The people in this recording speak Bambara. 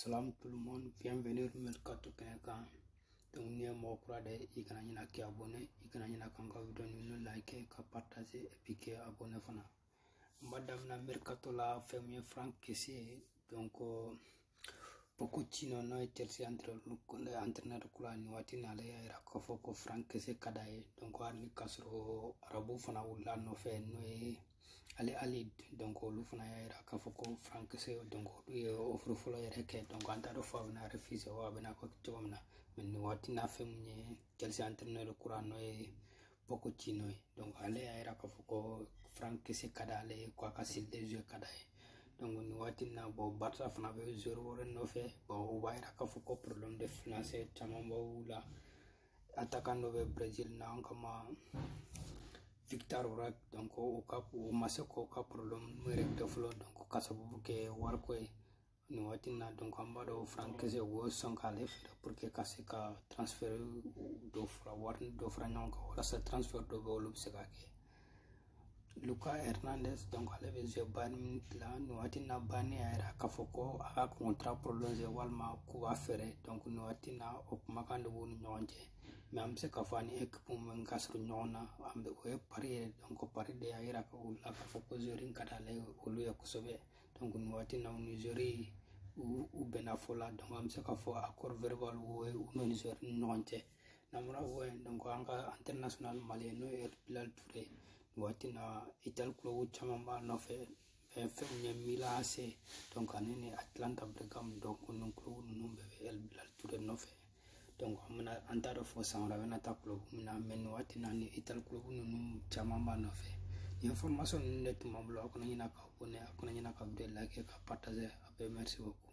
Salam tout le monde, bienvenue Mercato kɛnɛ kan. Donc, n'i ye mɔgɔ kura de i kana ɲina k'i abonné i kana ɲina k'an ka video ninnu like ka partage et puis k'i abonné fana n b'a daminɛ mercato la fɛn min ye franck kessié donc pochettino n'o ye chelsea entraîneur kura nin waati na ale y'a yira k'a fɔ ko franck kessié ka d'a ye donc hali ni k'a sɔrɔ arabu fana wulila a nɔfɛ n'o ye al ahli donc olu fana y'a yira k'a fɔ ko franck kessié donc olu ye offre fɔlɔ yɛrɛ kɛ donc an t'a dɔn fo a bɛna refuse wa a bɛna kɛ cogo min na mɛ nin waati na fɛn min ye chelsea entraîneur kura n'o ye pochettino ye donc ale y'a yira k'a fɔ ko franck kessié ka d'ale ye ko a ka style de jeu ka d'a ye donc nin waati na bon barça fana bɛ joueur wɛrɛ nɔfɛ bon o b'a yira k'a fɔ ko problème de financier caman b'olu la attaquant dɔ bɛ brésil na an k'a ma victor roque donc o ka o ma se k'o ka problème yɛrɛ régler fɔlɔ donc ka sababu kɛ wariko ye nin waati na donc an b'a dɔn franck kessié o y'o sɔn k'ale feere pour que ka se ka transfert dɔ fara wari dɔ fara ɲɔgɔn kan walasa transfert dɔ bɛ olu bɛ se ka kɛ lucas hernandez donc ale bɛ jouer bayern la nin waati na bayern y'a yira k'a fɔ ko a ka contrat prolonger walima k'u b'a feere donc nin waati na o kumakan de b'u ni ɲɔgɔn cɛ mɛ an bɛ se k'a fɔ a ni équipe min ka surun ɲɔgɔn na an bɛ o ye paris ye donc paris de y'a yira ka u la k'a fɔ ko joueur in ka d'ale olu ye kosɛbɛ donc nin waati na u ni joueur u bɛnna fɔ la donc an bɛ se k'a fɔ accord verbal o ye u n'u ni joueur ni ɲɔgɔn cɛ n'an bɔra o ye an ka international malien n'o ye el bilal touré waati na italie club caman b'a nɔfɛ fɛn min ye milan ac donc ani ni atalanta bergame donc nin club ninnu bɛɛ bɛ el bilal touré nɔfɛ donc an bɛna an t'a dɔn fo san wɛrɛ a bɛna taa club min na mɛ nin waati na ni italie club ninnu caman b'a nɔfɛ nin information ninnu de tun b'an bolo aw kana ɲina ka abonné aw kana ɲina ka video like ka partager aw bɛɛ merci beaucoup